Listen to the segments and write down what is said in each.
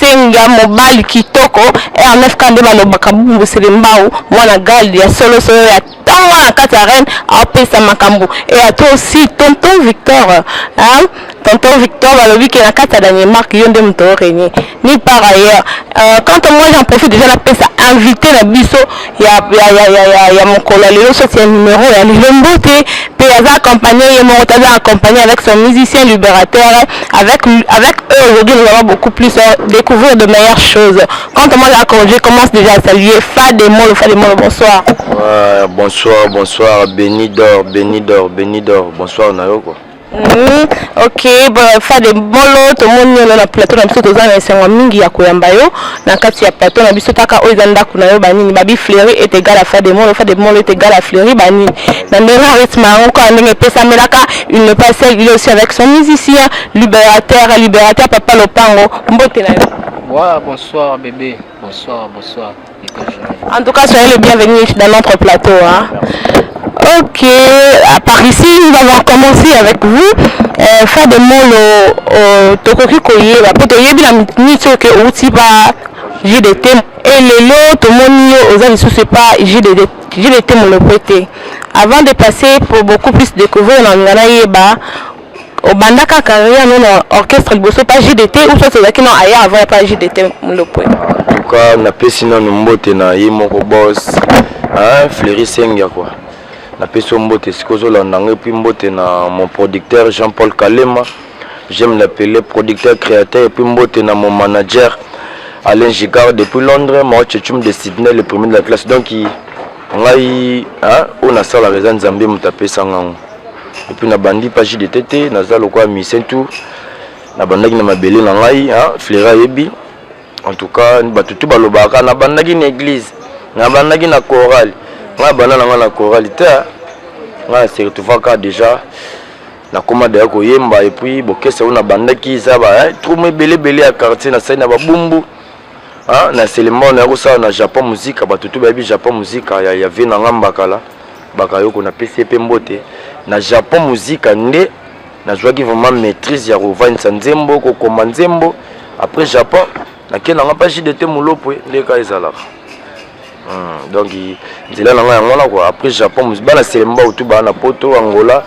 Senga mobali kitoko RNFK nde balobaka bumbu selembao mwana gal ya solo solo ya ntango na kati ya reine apesa makambo e ya toi aussi tonton Victor hein? tonton Victor balobi ke na kati ya Danemark yo nde moto orenye ni par ailleurs euh, quant à moi j'en profite déjà napesa invité na biso ya, ya, ya, ya, ya, ya mokolo ya lelo soki ya numero ya lelo mbote mpe aza accompagné ye moko te aza accompagné avec son musicien libérateur avec, avec eux aujourd'hui nous avons beaucoup plus à découvrir de meilleures choses quand on mange à congé commence déjà à saluer Fade Molo Fade Molo bonsoir ouais, bonsoir bonsoir Benidor Benidor Benidor bonsoir na yo quoi Mm, ok fade bolo tomoni yo na plateau na biso toza na esengo mingi ya koyamba yo na kati ya plateau na biso kaka oyo eza ndako na yo banini babi fleuri et egal à fade molo fade molo est egal à fleuri banini na ndenge arythme yango kaka ndenge epesamelaka il ne pas seul il est aussi avec son musicien libérateur libérateur papa lopango mbote na yo wow, bonsoir bébé Bonsoir, bonsoir. En tout cas, soyez le bienvenu dans notre plateau. Hein. Ok, à part ici, nous allons commencer avec vous. Euh, faire des mots, euh, euh, tokoki koyeba, po toyebi na mituni soki ke outi ba JDT. Et lelo, tomoni yo, oza lisusu epa JDT, JDT molopo te. Avant de passer pour beaucoup plus découvrir na ngana yeba, Obandaka carrière no na orchestre liboso pa JDT ou soit ozalaki na aya avant ya pa JDT Mulopwe? En tout cas napesi nanu mbote na ye moko boss hein, Fleury Sengia quoi napesi yo mbote esika ozolanda ngo epuis mbote na mon producteur Jean Paul Kalema j'aime l'appeler producteur créateur epuis mbote na mon manager Alain Gigard depuis Londres Mao Chechum de Sydney le premier de la classe donc ngai oyo nasalaka eza Nzambe moto apesa ngango epuis nabandi pa jdt te naza lokola musicien tout nabandaki na mabele na ngai fleure ayebi en tout cas bato tu balobaka nabandaki na église nabandaki na chorale ngai abanda na ngai na chorale te ngai na se retrouvaka déjà nakoma deya koyemba epuis bokese oyo nabandaki eza ba eh, troume ebele ebele ya quartier nasali na babumbu Ah, na selema na yako sala na Japon muzika bato tout bayebi Japon muzika ya ya vie na nga mbakala bakayoko na pesi pe mbote na Japon muzika nde nazwaki vraiment maîtrise ya kovandisa nzembo kokoma nzembo après Japon nake na nga mpa JDT Mulopwe nde ka ezalaka hmm, donc nzela na nga yango wana quoi après Japon bana selema bato baa na poto Angola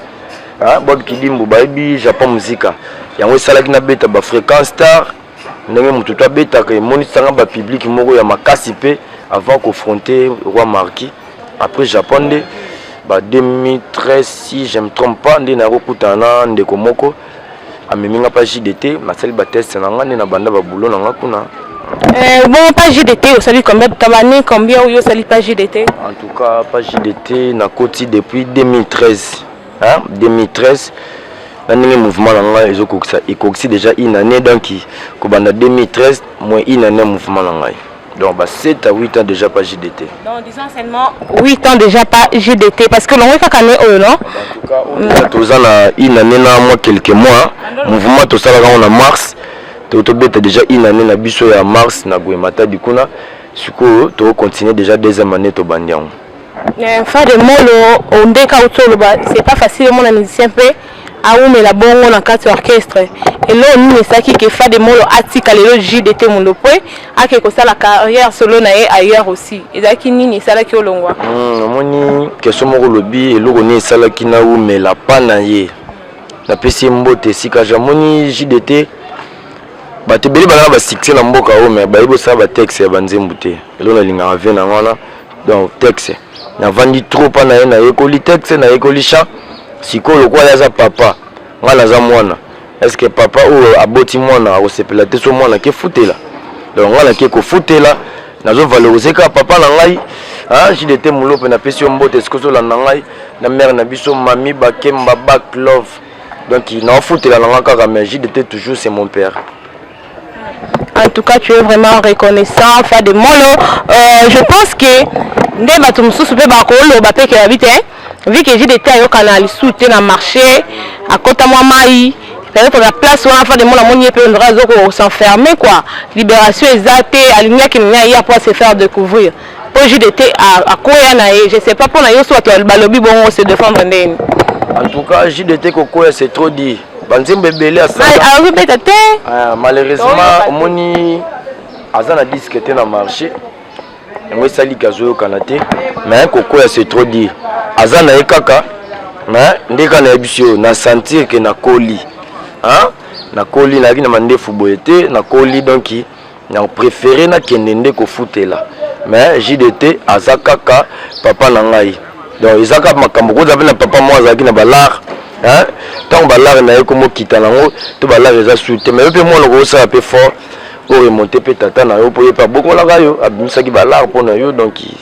ah, bob kidimbu bayebi Japon muzika yango esalaki nabeta ba fréquence tard ndenge moto to abetaka emonisanga ba public moko ya makasi mpe avant confronter roi marquis après japon nde ba 2013 si je me trompe pas nde nakokutana na ndeko moko amemi nga mpa jdt nasali bateste na nga nde na banda babulo na nga kuna Euh, bon, pas JDT, au salut combien Tabani, combien ou au salut pas JDT En tout cas, pas JDT, n'a depuis 2013. hein 2013 na ndenge mouvement na ngai ezokokisa ekokisi déjà une année donc kobanda 2013 moins une année mouvement na ngai donc ba 7 à 8 ans déjà pas JDT donc disons seulement 8 ans déjà pas JDT parce que longo kaka année oyo non mm. toza na une année na moi quelques mois mouvement tosalaka ngo na mars tobeta déjà une année na biso ya mars na goemata dikuna sikoyo tokocontinue déjà deuxième année tobandi yango Eh, fade molo ondeka oh, auti oloba c'est pas facile omona musicien mpe awumela bongo na kati ya orchestre eloo nini esaki ke fade molo atika lelo jdt mundo mpe ake kosala carrière solo na ye ailleurs aussi ezalaki nini esalaki olongwa hmm, omoni question moko olobi eloko nini esalaki nawumela pa na ye napesi ye mbote esika jamoni jdt bato ebele balaka basuccès na mboka oyo me bayebi osala batexte ya banzembu te elo nalingaka vie na wana donc texte navandi trop mpa na ye nayekoli texte nayekoli chant sikoyo lokola ye aza papa ngai naza mwana est ce que papa oyo aboti mwana akosepela te so mwana akefutela donc ngai nake kofutela nazovalorize kaka papa na ngai ah, jide te mulope napesi yo mbote esika ozolanda ngai na mare na biso mami bakemba back love donc naofutela na ngai kaka mais jide te toujours c'est mon père En tout cas, tu es vraiment reconnaissant, Fa de Molo. Euh, je pense que nde bato mosusu mpe bakoloba mpe ke babi te vu que jide te ayokana lisusu te na marché akota mwa mai peut-être na place wana fa de mona moni ye mpe ondra azo ko s'enfermer quoi libération eza te alingaki nini aye apo se faire découvrir mpo jide te akoya na ye je sais pas mpo na yo so bato balobi bongo se défendre ndeni en tout cas jide te kokoya c'est trop dit banzembo ebele asalakobeta te ah, malheureusement omoni aza na diske te na marché yango esali kazoyokana te mais kokoya c'est trop dire aza na ye kaka mais nde kaka nayebi biso oyo na sentir ke nakoli nakoli nayaki na mandefu boye te nakoli donki na prefere nakende nde kofutela mais jdt aza kaka papa na ngai donc eza kaka makambo koza mpe na papa moko azalaki na balare ntango balare na ye komokita nango to balare eza su te mais yo mpe mwana okosala mpe fort oremonte mpe tata na yo mpo ye mpe abokolaka yo abimisaki balare mpo na yo donki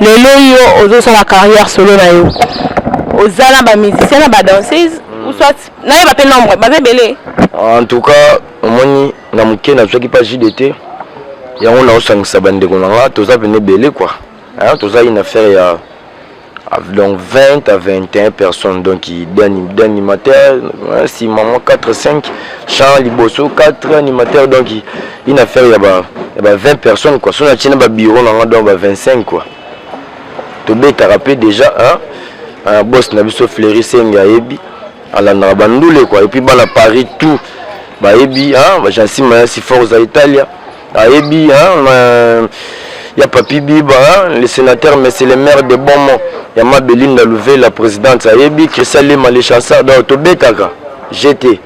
Lelo yo ozo sala carrière solo na yo. Oza na ba musiciens na ba danseuses hmm. ou soit na yeba pe nombre baza ebele. En tout cas, omoni na moke na zwaki pa JDT. Yango na osangisa ba ndeko na nga toza pene ebele quoi. Hein, toza une affaire ya donc 20 à 21 personnes donc d'animateurs hein, si maman 4 5 chant liboso 4 animateurs donc une affaire ya ba ya ba 20 personnes quoi sona tina ba bureau na nga donc ba 25 quoi to betaka pe déjà hein un boss na biso Fleury Senge ayebi alandaka ba ndule quoi et puis bana Paris tout bayebi hein ba Jansi Mayasi Forza Italia ayebi hein euh, ya Papi Biba hein, le sénateur monsieur le maire de Bomon ya ma Belinda Louvet la présidente ayebi Christian Lema le chanceur donc to betaka j'étais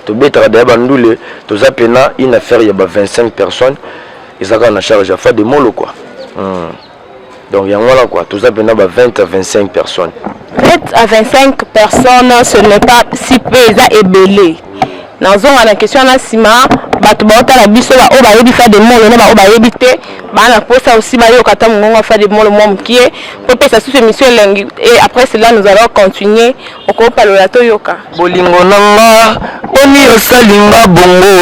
tobetaka daya bandule toza pena une affaire ya ba 25 personnes eza kaka na charge ya fade molo kua hmm. donc yango wana kua toza pena ba 20 à 25 personnes 20 à 25 personnes ce n'est pas si peu eza ebele nazonga na question wana nsima bato baotala biso baoyo bayebi fade molo na baoyo bayebi te baa na mposa aussi bayoka ata mongongo ya fade molo mwa mokie mpo mpesa susu émission elengi et après cela nous allons continuer Okopalola toyoka. Bolingo na nga boni osali nga bongo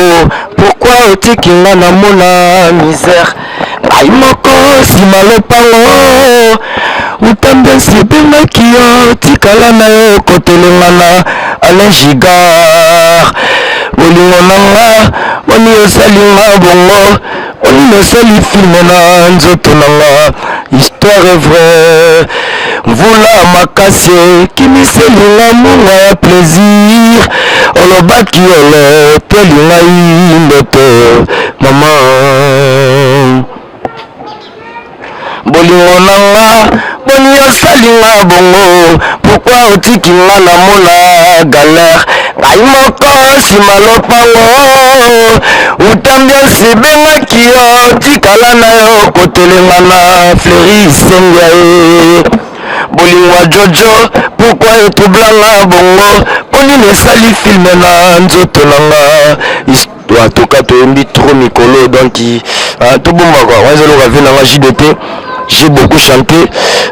pourquoi otiki nga na mona misère ngai moko sima lopango uta mbesi ebengaki yo tikala na yo kotelengana alain gigard bolingo na nga boni osali nga bongo Oni nasali filme na nzoto na nga histoire vrai mvula makasi ekimiseli nga munga ya plaisir olobaki oloteli ngai ndoto mama bolingo na nga boni osali nga bongo pokwa otiki nga na mona galere ngai moko nsima lopango utambi osibengaki yo tikala na yo kotelenga na fleri sengia ye bolingo ya jojo pokwa etroublanga bongo mpo nini esali filme na nzoto na nga To a toka toyembi trop mikolo donc ah, tobomba quoi wana ezaloka vie nanga jdt j'ai beaucoup chanté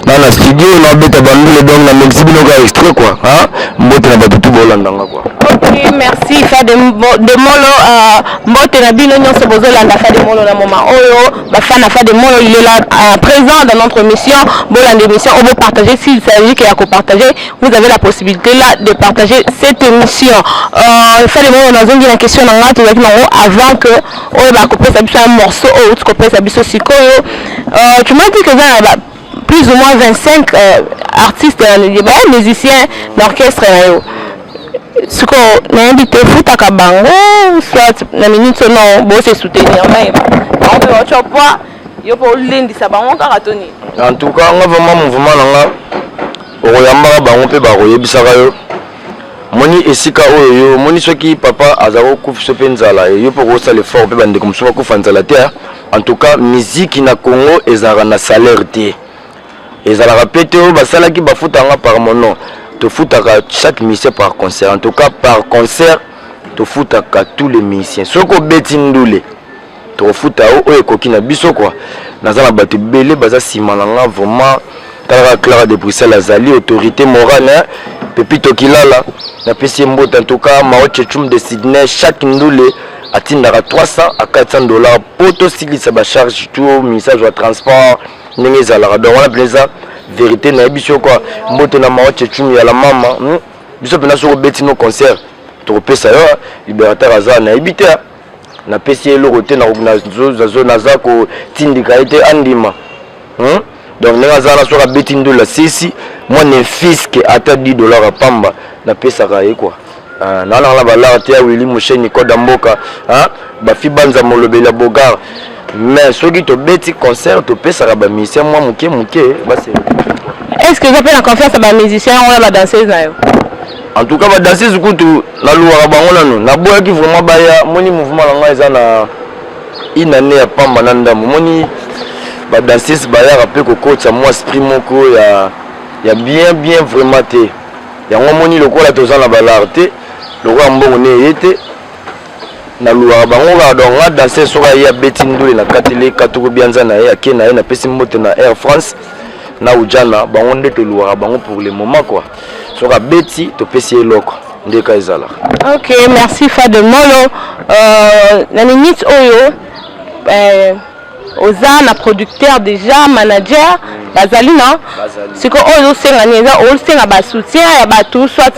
na na studio na beta bandule donc na mixi bino ka extrait quoi hein mbote na bato tu bolanda nga quoi ok merci fa de, de molo uh, mbote na bino nyonso bozolanda fa de molo na moma oyo bafan na fa de molo il est là uh, présent dans notre mission bolanda émission oyo bopartage s'il s'agit ke ya kopartage vous avez la possibilité là de partager cette émission euh, fale moko nazongi na question na ngai tozalaki nango avant que oyo bakopesa biso ya morceau oyo outi kopesa biso sikoyo euh, tu m'as dit que eza na ba plus ou moins 25 euh, artistes euh, ba musiciens na orchestre na yo sikoyo nayebi te ofutaka bango soit na minute so non bose soutenir nayeba bango mpe baotyo poa yo mpo olendisa bango kaka to nini en tout cas nga vraiment mouvement na nga Okoyambaka bango mpe bakoyebisaka yo moni esika oyo yo moni soki papa aza kokufa so mpe nzala yo mpe okosala effort mpe bandeko mosusu bakufa nzala te en tout cas miziki na congo ezalaka na salaire te ezalaka mpe te oyo basalaki bafutanga par mono tofutaka chaque musicien par concert en tout cas par concert tofutaka tous les musiciens soki obeti ndule tokofuta yo oyo ekoki na biso kwa naza na bato ebele baza nsima na nga vraiment talaka clara de bruxelles azali autorité morale hein? pepito kilala napesi ye mbote en tout cas mao chechum de sydney chaque ndule atindaka 300 à 400 dollars mpo tosilisa bacharge to ministage ya transport ndenge ezalaka donc wana mpenza verité nayebi biso kwa mbote na mao chechum ya la mama hmm? biso mpenza soki obeti no concert tokopesa yo liberateur aza nayebi te napesi ye eloko te naza kotindika ye te andima hmm? donc ndenge aza wana soki abeti ndolo asesi mwa nefiske ata 10 dollar ya pamba napesaka ye kua ah, nawana wana balare te ya wili mosheni koda mboka ah, bafi banza molobeli ya bogar mais soki tobeti concert topesaka bamusicien mwa moke moke base est ce que oza mpe na confiance ya bamusicien yango na badanseuse na yo En tout cas ba danseuse kutu na louaka bango nanu na boyaki vraiment baya moni mouvement na ngai eza na une année ya pamba na ndambo moni ba danseuse bayaka pe kokotisa mwa esprit moko ya ya bien bien vraiment te yango moni lokola toza na balare te lokola mbongo ne eye te na louaka bango kaka donc nga danseuse soki aye abeti ndule na kateli katuku bianza na ye ake na ye napesi mbote na air france na ujana bango nde tolouaka bango pour le moment quoi soki abeti topesi ye eloko nde ka ezalaka ok merci fado molo euh, na minute oyo euh, oza na producteur déjà manager mm. bazali na sikoyo oyo ozosenga nini eza osenga basoutien ya bato soit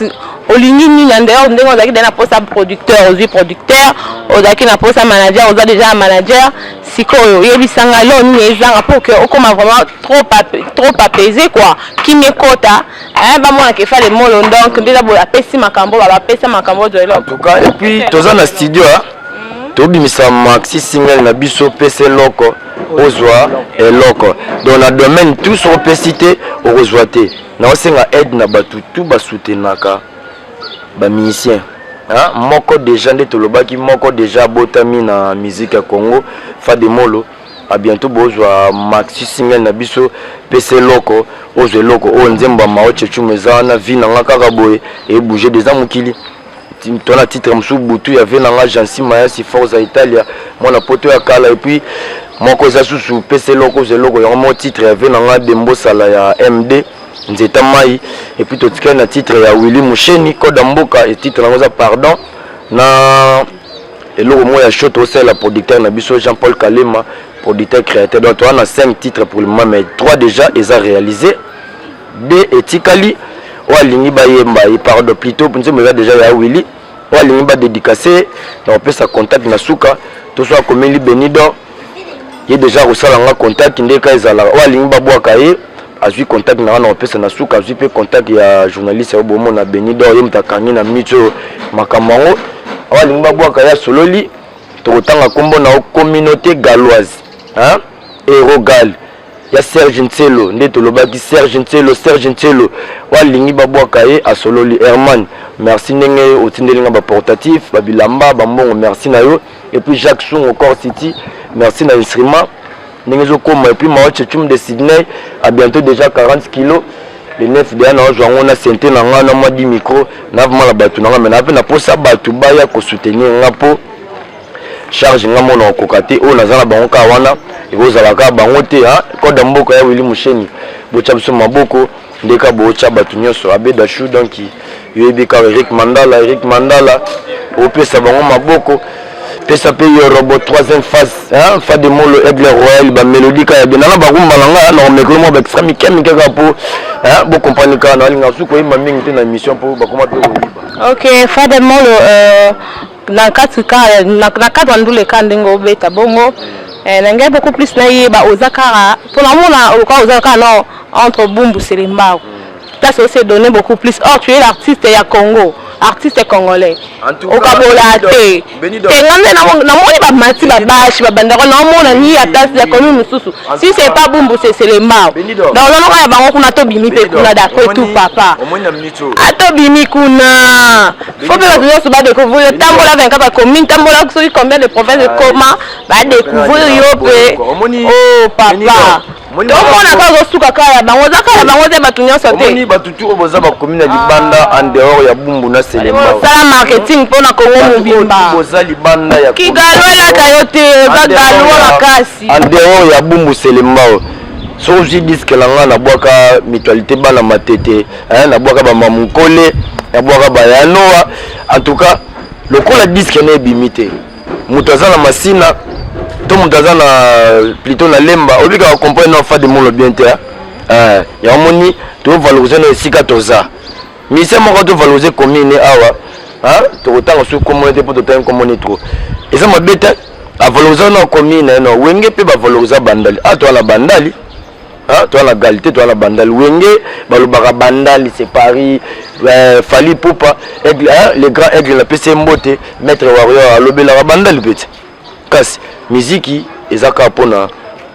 olingi nini en dehors ndenge ozalaki deja na posa producteur ozwi producteur ozalaki na posa manager oza deja na manager sikoyo oyebisanga lo nini ezanga pour que okoma vraiment trop ape, trop apaiser quoi kimia ekota eh, bamona ke fale molo donc nde eza boye apesi makambo baba apesa makambo to eloko en tout cas et puis toza na studio hein? mhm. tobimisa maxi single na biso pesa eloko ozwa eloko donc na domaine tout soki opesi te okozwa te naosenga aide na bato tu basutenaka bamusicien hein? moko deja nde tolobaki moko deja abotami na musique ya congo fademolo A bientôt bozwa maxi single na biso pesa eloko ozwa eloko oyo nzembo ya mao chechumu eza wana vie na nga kaka boye ebouge deza mokili to na titre mosusu butu ya vie na nga jansi mayasi forza italia mwana poto ya kala epuis moko eza susu pesa eloko ozwa eloko yango moko titre ya vie na nga dembosala ya md nzeta mai epuis totikali na titre ya willi musheni koda mboka titre yango eza pardon na Eloko moi ya show tosalela producteur na biso Jean Paul Kalema producteur créateur donc toa na 5 titres pour le moment mais 3 déjà eza réalisé de etikali oyo alingi bayemba ye pardon plutôt nzembo eza deja ya willi oyo alingi badedicase na kopesa contact na suka to so akomeli benidor ye deja akosala nga contact nde ka ezalaka oyo alingi babwaka ye azwi contact na nga na kopesa na suka azwi mpe contact ya journaliste ya bomo na beni dor ye moto akangi na minute oyo makambo yango oyo alingi babwaka ye asololi tokotanga nkombo na yo communauté galloise erogal ya serge nselo nde tolobaki serge nselo serge nselo oyo alingi babwaka ye asololi herman merci ndenge otindeli nga baportatif babilamba bambongo merci na yo et puis Jacques Sungo Core City merci na instrument ndenge ezokoma et puis Mao Chechum de Sydney à bientôt déjà 40 kilos le 9 deya naozwa yango na sente na ngai na mwa di micro navima na bato na ngai me nape naposa bato baya kosoutenir ngai mpo charge ngai mona okoka te oyo naza na bango kaka wana ekozala kaka bango te koda mboka ya wili mosheni botya biso maboko Ndeko ya bootya bato nyonso Abbe Dachou donc yo oyebi kaka Eric Mandala Eric Mandala opesa bango maboko pesa mpe yo robot troisième phase hein? fa de molo aigle royal bamelodi kaka bina na bakumba na ngai na komekolo mwa baextra mike mike kaka mpo bocomprendre kaka na balinga su koyemba mingi te na émission mpo bakoma mpe koyiba ok fa de molo euh... na kati ka na cadre ya ndule ka ndenge obeta bongo eh, na ngai beaucoup plus nayeba oza kaka mpo namona okoka oza kaka na entre bumbu selembaku place ose donne beaucoup plus or tu es l'artiste ya congo artiste congolais okabola te te nga nde namoni bamati babashi babandako naomona ni ya place ya commune mosusu si c'est pas bumbu seselembao donc nanoka ya bango kuna tobimi mpe kuna d'après tout papa atobimi ah, kuna faut mpe bato nyonso badécouvrir yo tambola 24 bacommune tambola soki combien de province ekoma ah, badécouvrir yo mpe o oh, papa tomonaka ozosuka kaka ya bango oza kaka ya bango te bato nyonso te bato tu oyo boza bakomi na libanda ah. en dehors ya bumbu na selemaosala marketing mpo na kongo mobimba boza libanda ya kigalo elaka yo te oza galoa makasi en dehors ya bumbu selembao soki ozwi diske na ngai nabwaka mutualité bana matete hein na bwaka ba mamunkole na bwaka ba yanoa en tout cas lokola disque na ebimi te moto aza na masina to moto aza na plutôt na lemba obikaka comprendre na fadi molo bien te hein ya moni to valoriser na esika toza mise moko to valoriser commune awa hein to kotanga su komone te po to tangi komone trop eza mabe te avaloriser na commune na wenge pe ba valoriser bandali ato na bandali Hein, toi na galité, toi na bandal. Wenge, balobaka bandal, c'est Paris. Euh, Fali Poupa, aigle, hein, le grand aigle, la PC Mbote, Maître Warrior, alobelaka bandal petit. Kasi, miziki, ezaka pona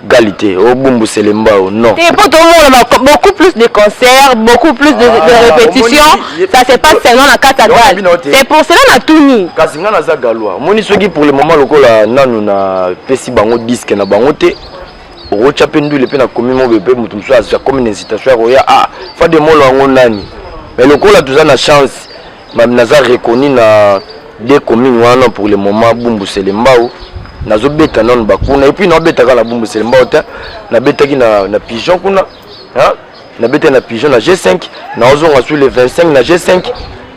galité, au bumbu selembao, non. Et pour tout le monde, beaucoup plus de concerts, beaucoup plus de, ah, de répétitions, ça se passe seulement na Katagal. C'est pour cela na Tuni. Kasi nga naza galois. Moni soki pour le moment lokola nanu na pesi bango disque na bango te. okotya mpe ndule mpe nakomi mobe mpe moto mosusu akomi na incitation ya koya a ah, fa de molo yango nani me lokola toza na chance naza reconnu na de commune wana pour le moment bumbusele mbau nazobeta nano bakuna epuis naobetaka na bumbusele mbau te nabetaki na, na pigeon kuna hein na beta na pigeon na G5 na ozonga sur le 25 na G5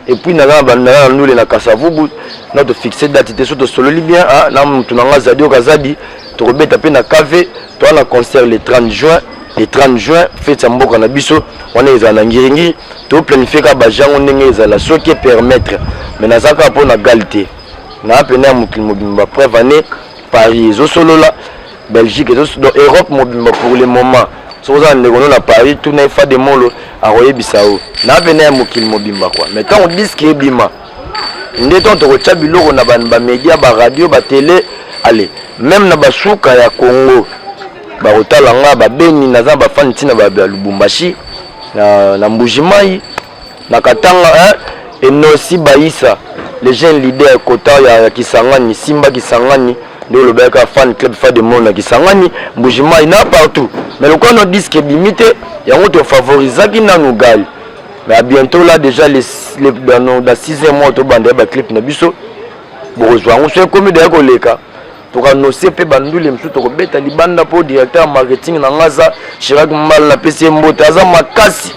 et puis na lana na ndule na kasavubu na to fixer date te so to sololi bien hein na mutu na nga zadi okazadi to kobeta pe na KV to na concert le 30 juin le 30 juin fete ya mboka na biso wana ezala na ngiringiri toplanifie kaka bajango ndenge ezala soki epermettre mai naza kaka mpo na gale te naa mpena ya mokili mobimba preuve année paris ezosolola Belgique ezo donc Europe mobimba pour le moment soki oza na ndeko no na Paris tuna efa de molo akoyebisa yo na pena ya mokili mobimba kwa mais ntango diski ebima nde ntango tokotya biloko na bamedia baradio batele ale meme na basuka ya congo bakotala nga babeni naza na bafani ntina ba lubumbashi na, na mbujimai na katanga eh, enosi baisa le jeune leader kota ya, ya kisangani simba kisangani nde olobaki kaka fan club fa de monde na kisangani mbujimai na partout mais lokola no disque ebimi te yango tofavorisaki nanu gali mais à bientôt là déjà les, les, dans, dans 6 mois tobanda ya baclip na biso bokozwa yango so ekomi daya koleka tokanose mpe bandule mosusu tokobeta libanda mpo directeur ya marketing na nga aza chirac mbala napesi ye mbote aza makasi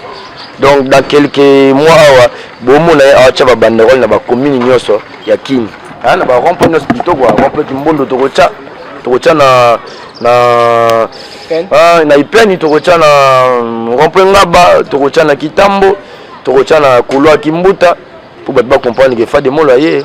donc dans quelques mois awa bomona ye awatya babanderole na bacommune nyonso ya kini aya na barompo nyonso kitoko rompo kimbondo tokotya tokotya na na ah, na ipeni tokotya na mm, rompo ngaba tokotya na kitambo tokotya na couloir kimbuta mpo bato bacomprendre ke fademolo aye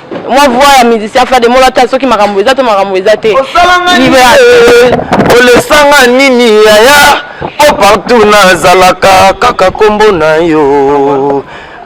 mwa voix ya musicien fade molo ata soki makambo eza to makambo eza te olesanga nini yaya po partout nazalaka kaka nkombo na yo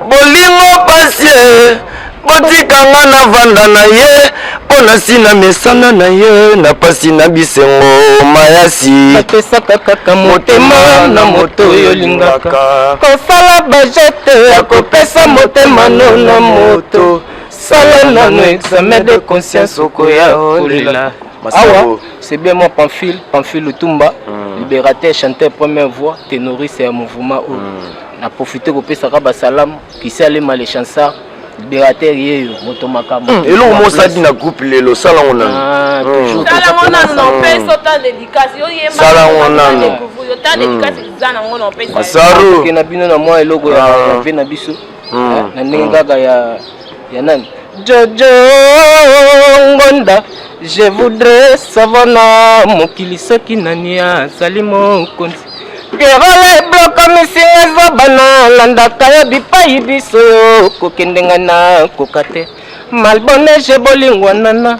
bolingo pasie botikanga na vanda na ye mpo na si na mesana na ye na pasi na bisengo mayasi napesaka kaka motema na moto oyo olingaka kosala bajete ya kopesa motema no na moto sala nano examen de conscience okoya olela awa c'est bien moi pamphile pamphile lutumba mm. libérateur chanteur première voix ténoriste ya mouvement oyo mm. na profite kopesaka basalamu kisalema le chansard libérateur yeyo moto makambo hmm. eloko mosadi na groupe lelo sala ngo nano ah, hmm. sala ngo nano na opesi ota dedikasi yoyembasala ngo nano ota dedikasi eza na ngo na opesi masaro na bino na mwa eloko ya ah. vie na biso hmm. na ndenge hmm. kaka ya ya nani jojo ngonda je voudrais savoir na mokili soki nani azali mokonzi pierole bloka misinga eza bana landaka ya bipai biso yo kokende ngai na koka te malbonege bolingwanana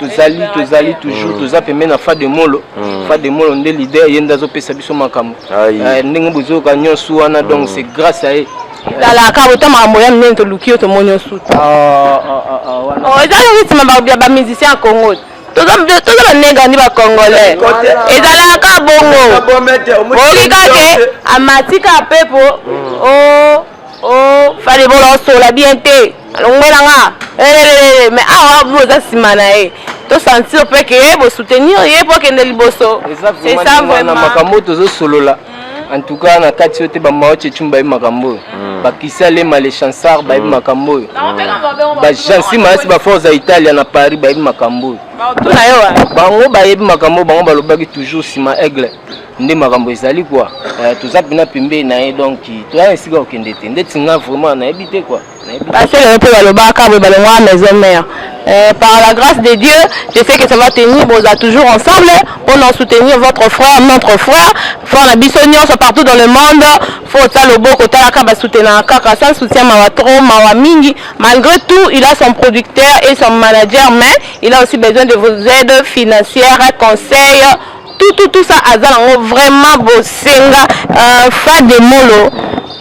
tozali tozali toujours mm. toza pembe na fa de molo mm. fa de molo nde leader ye nde azopesa biso makambo eh, ndenge bozoyoka nyonso wana donc mm. c'est grâce à ye talaka bota makambo ya minene toluki yo tomoni yo suta ah, ah, ah, oh, eza rythme ya bamusicien ya congo toza banenga ndi bacongolais ezalaka bongo okikake amatika pepo o oh. Oh, fallait bon on la bien te. Longola nga. Eh, mais ah, vous êtes si manae. To sentir pe que eh, vous soutenir ye pour que ne liboso. C'est ça vraiment. Makambo tozo solola. Mm. En tout cas, na kati yote ba maoche chumba makambo. Mm. Ba kisale male chansar ba mm. makambo. Ba jansi maasi ba forza Italia na Paris ba makambo. Ba to na yo. Bango ba yebi makambo bango ba lobaki toujours sima aigle. nde makambo ezali kwa eh, toza mpena pembe na ye donc toya esika kokende te ndeti nga vraiment nayebi te kwa basele mpe balobaka boye balongwa maison mère Euh, par la grâce de Dieu, je sais que ça va tenir, vous êtes toujours ensemble, pour nous soutenir votre frère, notre frère, frère la Bissonnion, sont partout dans le monde, faut ça le beau côté la kaba soutenir kaka, ça soutient mawa trop, mawa mingi, malgré tout, il a son producteur et son manager, mais il a aussi besoin de vos aides financières, conseils, tout tout tout ça aza nango vraiment bosenga euh, fa de molo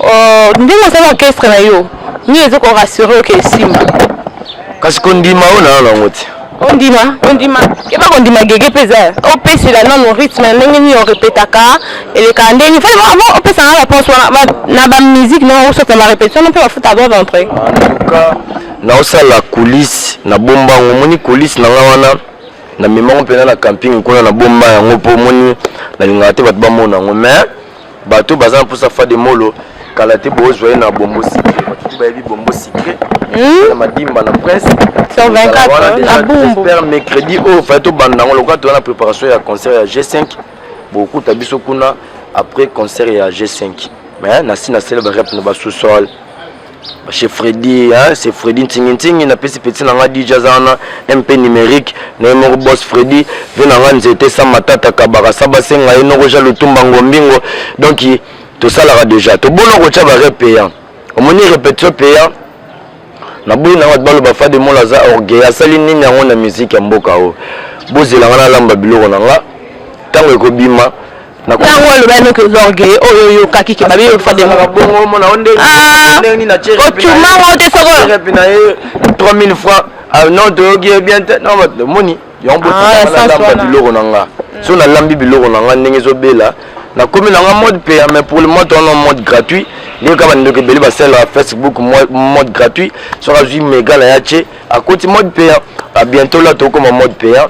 euh, ndenge osali orchestre na yo nini eza korassure oke esimba kasi kondima oyo nayo nango te ondima ondima keba kondima gege mpe eza opesela nano rythme ndenge nini orepetaka elekaka ndenge nini faa avant opesa nga réponse wana na bamusike nao osota na barépétition no mpe bafuta bob entre naosala coulisse na bombango omoni coulisse na nga wana na mema ngo mpena na camping kuna na bomba yango mpo omoni nalingaka te bato bamona yango mais bato baza na mposa fa de molo kala te bozwa ye na bombo sikre bato te bayebi bombo sikre hmm? na madimba na presse super mercredi oyo oh, fai tobanda yango lokola toza na préparation ya concert ya g5 bokuta biso kuna après concert ya g5 mais nasi nasele barep na basous-sol chez Freddy hein c'est Freddy ntingi ntingi na pesi petit na nga DJ azana MP numérique na ye moko boss Freddy ve na nga nzete sa matata kabaka sa basenga ye noko ja lutumba ngombingo donc tosalaka déjà tobona kotya ba rep payant omoni répétition payant na boyi na nga baloba fade mola aza orgueil asali nini yango na musique ya mboka oyo bozela nga nalamba biloko na nga ntango ekobima ntango aloba noki oza orgueille oyo oh, oyokaki ke babi ofademaka bongo omona o ndenge nini na chere ocumango te soko cherepi na ye 3000 francs ah, non toyoki ye bien te non omoni yango ah, botalamba biloko na nga mm. so nalambi biloko na nga ndenge ezobela nakomi na nga mode paya mais pour le moment towana mode gratuit ndenge kaka bandeko ebele basalelaka facebook mode gratuit soki azwi mega na ya ce akoti mode payant a bientôt la tokoma mode payant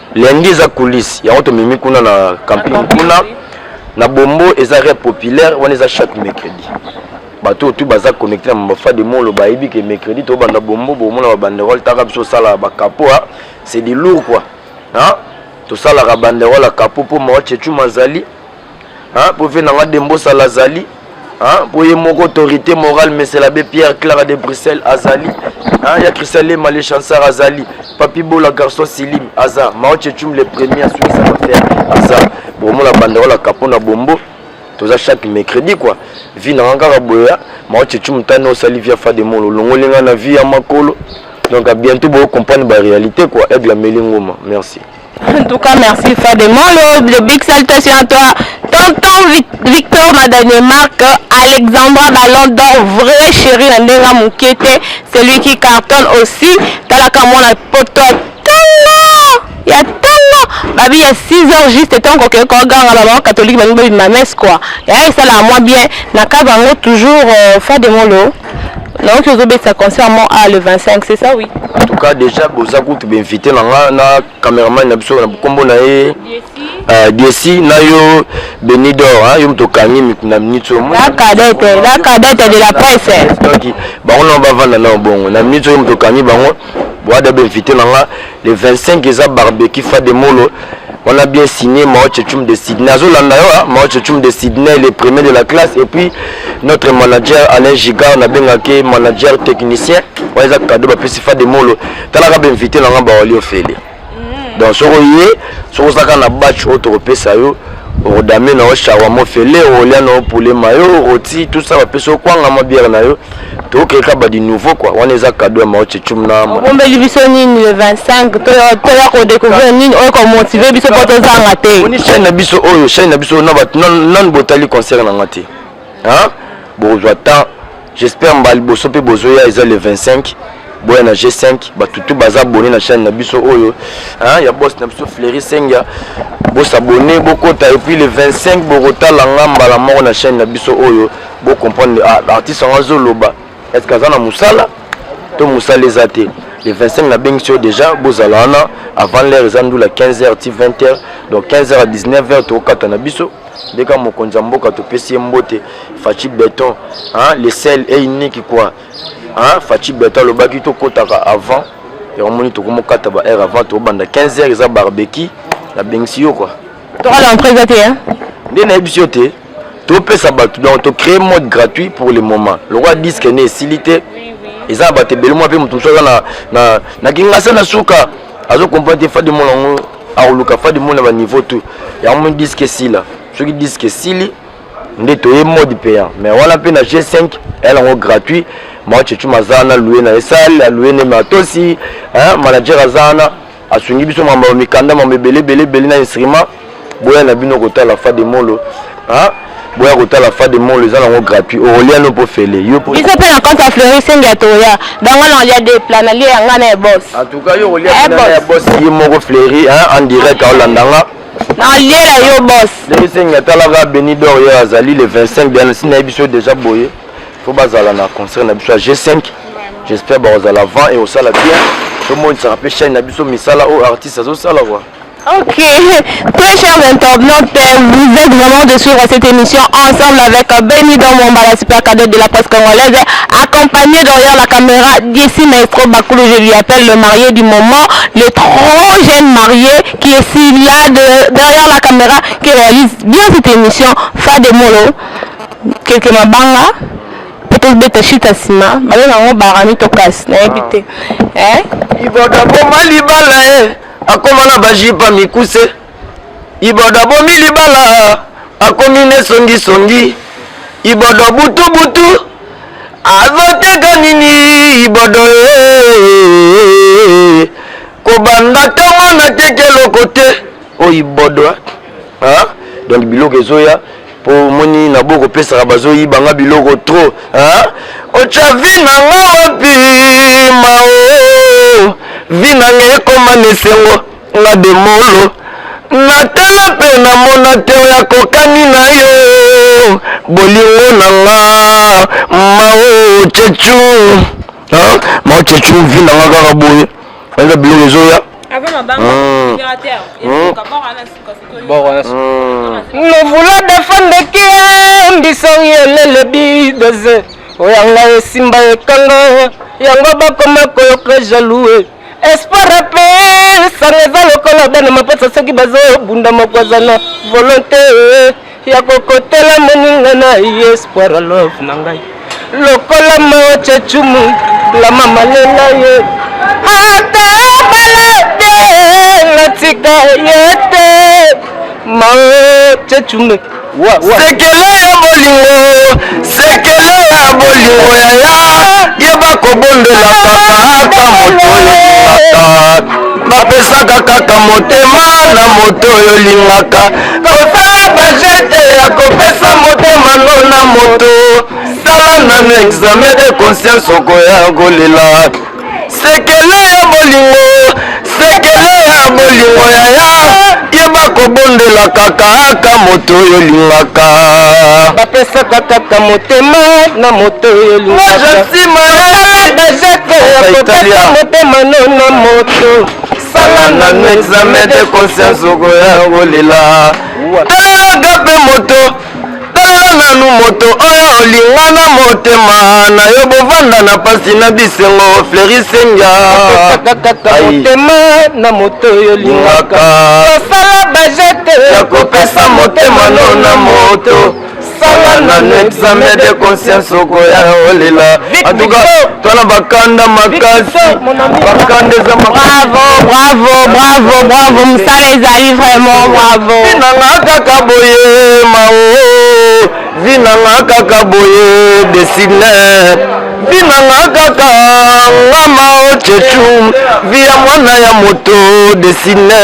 Lundi eza coulisse yango tomemi kuna na camping kuna na bombo eza rep populaire wana eza chaque mercredi bato oyo tu baza connecte na mabafa de molo bayebi ke mercredi tobanda bombo bomona babanderole taka biso osalaka bakapo a c'est du lourd kua tosalaka banderole ya kapo mpo mawa chechu mazali Hein, prophète nanga Dembosa Lazali. Hein, pour ye moko autorité morale mais c'est l'abbé Pierre Clara de Bruxelles Azali. Hein, il y a Christian Lema le chanseur Azali. Papi Bola garçon Silim Aza. Mao Chechum le premier à suivre sa affaire Aza. Pour moi la banderole à Capona Bombo. toza chaque mercredi quoi vie nanga kaka boya mao chechu mutani osali via fa de molo olongoli nga na vie ya makolo donc bientôt boko comprendre ba réalité quoi aigle ameli ngoma merci En tout cas, merci Fadé Molo, de big salutations à toi. Tonton Vic- Victor na Danemark, Alexandra Ballon d'Or, vrai chéri na ndenga Mukete, celui qui cartonne aussi. Talaka mwana poto ya tanga, ya tanga. Babi ya 6 heures juste tant que ko ganga ba maman catholique ba ngi ba messe quoi. Ya esala moi bien na kaba ngo toujours euh, Fadé Molo. nayoki ozobetisa concert mo a le 25 c'est ça oui en tout cas déjà boza kutu bainvité na nga na cameraman na biso na nkombo na ye desi euh, na yo benidor yo moto okangi mikuna minute la cadette la cadette de la presse bango na bavanda na obongo na minute oyo moto okangi bango boada bainvité na nga le 25 eza barbecue fa de molo on a bien signé Mao Chechum de Sydney azolanda yo ah, Mao Chechum de Sydney le premier de la classe et puis notre manager Alain Giga on abengaki manager technicien oyo eza cadeau bapesi fa de molo talaka bainvite na nga bawali ofele mm. donc soko ye soko ozalaka na batch oyo tokopesa yo okodame na yo shawa mofele okolia na yo pule mayo roti tout ça bapesi yo kwanga mwa biere na yo tokeka ba du nouveau quoi wana eza cadeau ya mao chechum na obombeli biso nini le 25 toya kodécouvrir nini oyo komotive biso mpo tozanga te oni chaine na biso oyo chaine na biso na bato nanu botali concert na nga te bozwa temps j'espère mbala liboso mpe bozoya eza le 25 boya na g5 bato tu baza abone na chaine na biso oyo ya bos na biso fleuri sengia bosabone bokota epuis le 25 bokotala nga mbala moko na chaine na biso oyo Bo comprendre ah, artiste yango azo loba est ce que aza na musala to musala eza te le 25 na bengi sur déjà bozala wana avant l'heure eza ndula 15h ti 20h donc 15h à 19h tokokata na biso nde kaka mokonzi ya mboka topesi ye mbote faci beton hein, le sel e unique quoi hein, faci beton alobaki tokotaka avant yango moni tokomokata ba heure avant tokobanda 15h eza barbeki nabengisi yo quoi tokala empresa te nde nayebisi yo te topesa bato donc to créer mode gratuit pour le moment lokola disque ne esili te eza na bato ebele mwa mpe moto mosusu aza na, na, na kingasa na suka azo comprendre te fadi mona yango akoluka fadi mona baniveau tout yango moni disque esila soki disque esili nde toye mode payant mais wana mpe na g5 eyala yango gratuit maochechu maza na loue na ye sale aloue ne matosi manager aza wana asungi biso mamba ba mikanda mamba ebele ebele ebele na instrument boya na bino kotala fa de molo ha boya kotala fa de molo eza nango gratuit okolia no mpo fele yo mpo biso mpe na compte ya fleuri sengi ya toya bango na olia de plat na lie ya ngai na ya bos en tout cas yo okolia eh, na ya bos ye moko fleuri en direct aolanda nga naolia yo bos fleuri sengi atalaka benidor ye azali le 25 biana si nayebi biso deja boye po bazala na concert na biso ya g5 j'espère bakozala avant et osala bien tomonisaka mpe chaine na biso misala oyo artiste azosala kua Ok, très chers internautes, vous êtes vraiment de suivre cette émission ensemble avec euh, Benny Domomba, la super cadette de la presse congolaise, accompagné derrière la caméra d'ici Maestro Bakoulou, je lui appelle le marié du moment, le trop jeune marié qui est si là de, derrière la caméra, qui réalise bien cette émission, Fademolo. keke mabanga mpe tobeta shita nsima babe nango barani to kasi nayebi te eh? iboda boma libala e eh. akoma na bajipa mikuse iboda bomi libala akomi ne songisongi ibodo butubutu azoteka nini ibodo eh. kobanda ntango nateki eloko te oyo ibodo hein donc biloko ezoya po moni na boko pesaka bazo yiba nga biloko trop hein ocha vie na nga wapi mao vie na nga ekoma nesengo nga demolo natala mpe namona te oyo akokani na yo bolingo na nga mao chechu mao chechu vi na nga kaka boye Eza biloko ezoya. Avant ma banque, hmm. opérateur. Et donc, à bord, on a suka suka. Bord, on a suka. Nous voulons défendre qui est, mbiso yelele bidoze. Oya nga esimba ekanga, yango bakoma koyoka jaloux. Espoir ape, sanga eza lokola bana mapasa soki bazobunda moko aza na volonté. ya kokotela moninga na ye espoir ya love na ngai lokola mawa chachumu la mama lela ye ata bala te natika ye te mawa chachume sekele ya bolingo sekele ya bolingo yaya yeba kobondela kaka moto olingaka bapesaka kaka motema na moto oyo olingaka kosala bajete ya kopesa motema no na moto sala nanu examen de conscience okoya kolela sekele ya bolingo sekele ya bolingo yaya yeba kobondela kaka aka moto oyo olingaka bapesaka kaka motema na moto oyo olingaka motema no na moto sala nanu examen de conscience okoya kolela talaga mpe moto talela nanu moto oyo olinga na motema na yo bovanda na mpasi na bisengo flerisenga motema na moto oyo olingaka osala bajete ya kopesa motema no na moto sala nanu examen de conscience okoya olela antuka twana bakanda makasi bakanda eza bravo bravo bravo bravo mosala ezali vraiment bravo nanga kaka boye mao vi nanga kaka boye desine vi nanga kaka ngama ochechu vi ya mwana ya moto desine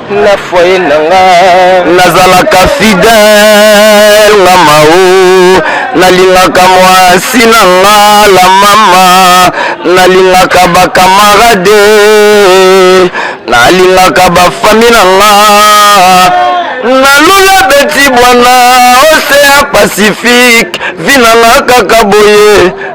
na foye na nga nazalaka fidèle nga mao nalingaka mwasi na nga la mama nalingaka bakamarade nalingaka bafami na nga nalula beti bwana ocean pacifique vinanga kaka boye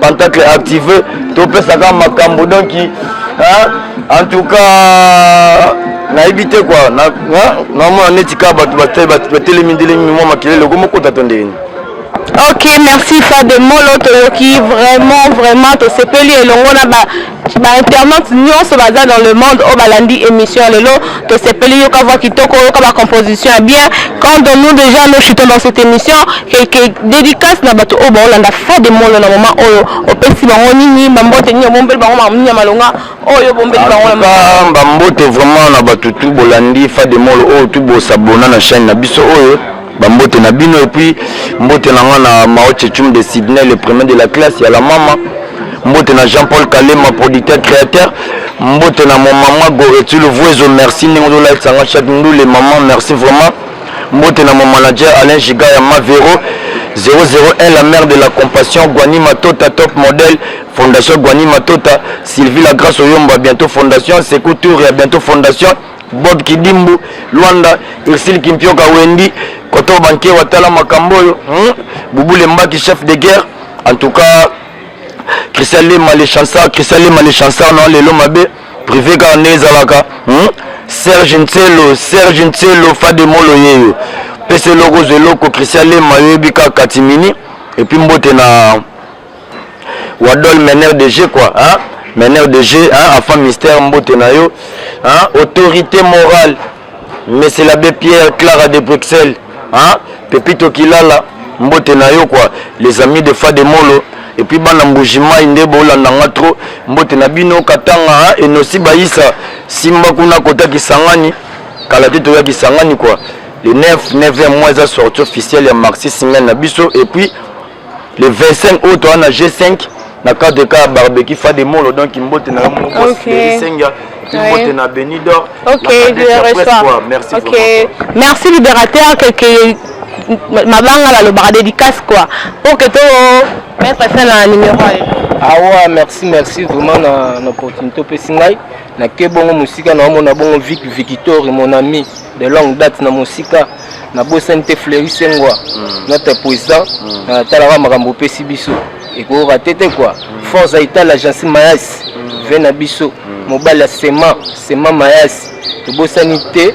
pantacle active topesaka makambo donc en tout cas nayebi te kua namona neti kaka bato batelemi ndelemi mwa makelele okomokota to ndenge ok merci fade molo toyoki vraiment vraiment tosepeli elongo na ba ba internautes nyonso baza dans le monde oyo balandi émission ya lelo tosepeli yoka voix kitoko yoka ba composition ya bien quand de nous déjà nous chutons dans cette émission quelque dédicace na bato oyo baolanda fa de molo na moment oyo opesi bango nini bambote nini obombeli bango mamini ya malonga oyo obombeli bango na bambote vraiment na bato tu bolandi fa de molo oyo tu bosabona na chaîne na biso oyo Ba mbote na bino et puis mbote na nga na Mao Chechum de Sydney le premier de la classe ya la mama. Mbote na Jean-Paul Kalema producteur créateur. Mbote na mon maman Goretu le Vuezo merci ndenge ozo like sanga chaque ndule maman merci vraiment. Mbote na mon manager Alain Giga ya Mavero 001 la mère de la compassion Guani Matota top modèle Fondation Guani Matota Sylvie la grâce Oyomba bientôt Fondation Sekou Tour ya bientôt Fondation Bob Kidimbu, Luanda, Ursule Kimpioka Wendy, Koto Banke Watala Makamboyo, hmm? Bouboule Mbaki, chef de guerre. En tout cas, Christian Lema les chansards, Christian Lema les chansards, non, les Lomabe, privé car Nezalaka, hmm? Serge Nselo, Serge Nselo, Fademolo Yeyo, Pese Logo Zeloko, Christian Lema, Yebika Katimini, et puis Mbote na. Wadol meneur de jeu quoi hein? meneur de jeu hein? enfant mystère mbote na yo hein? autorité morale monsieur l'abbé Pierre Clara de Bruxelles hein? Pepito Kilala mbote na yo quoi les amis de Fademolo et puis bana mbujimai nde bolanda nga trop mbote na bino katanga hein? enosi bayisa simba kuna kota kisangani kala te toya kisangani quoi le 9 9 mois eza sortie officielle ya marxiste ngai na biso et puis le 25 août wana na G5 na cadre ka barbecue fa de molo donc mbote na mo boss okay. senga mbote na Benidor okay, je le reçois merci okay. beaucoup merci libérateur que, que mabanga la lobaka dédicace quoi pour que to mettre fin na numéro awa ah merci merci vraiment na, na opportunité opesi ngai na ke bongo mosika na omona bongo vic victory mon ami de longue date na mosika na bosani te fleuri sengwa mm. notre président mm. euh, talaka makambo opesi biso ekoyoka te te kua mm. force aitala jansi mayasi ve na biso mobali ya sema sema mayasi tobosani te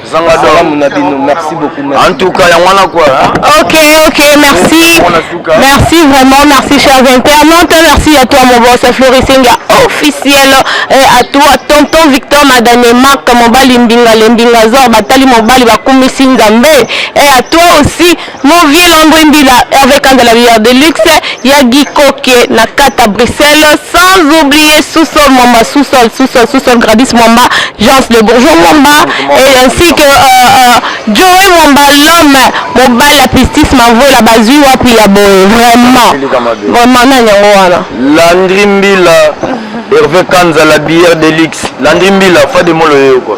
zanga salamu na bino merci beaucoup merci en tout cas yango wana quoi ok ok merci merci vraiment merci chers internautes merci à toi mon boss florissing officiel et à toi tonton victor madame marc mobali mbinga le mbinga zor batali mobali bakumisi nzambe et à toi aussi Mon vieux Landry Mbila, Hervé Kanda la meilleure de luxe, Yagi Koke, Nakata Bruxelles, sans oublier Sous-sol Mwamba, Sous-sol, Sous-sol, Sous-sol Gradis Mwamba, Jean le Bourgeois Mwamba, et ainsi que euh, euh, Joey Mwamba, l'homme, mobile la pistis, Mavola Bazui, Wapi Yaboe, vraiment, vraiment, nani yango wana Landry Mbila, Hervé Kanza la bière de luxe, Landry Mbila, Fademolo Yoko.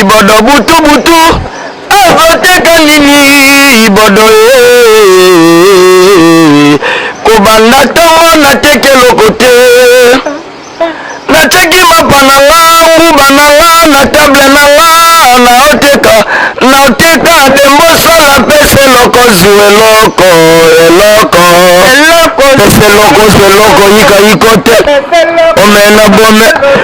Ibodo butu butu azoteka nini ibodo ee kobanda ntango nateki eloko te nateki mapa na nga nguba na nga na table na nga naoteka naoteka dembosala pese eloko zu eloko eloko pese eloko zu eloko yika yiko te omena bome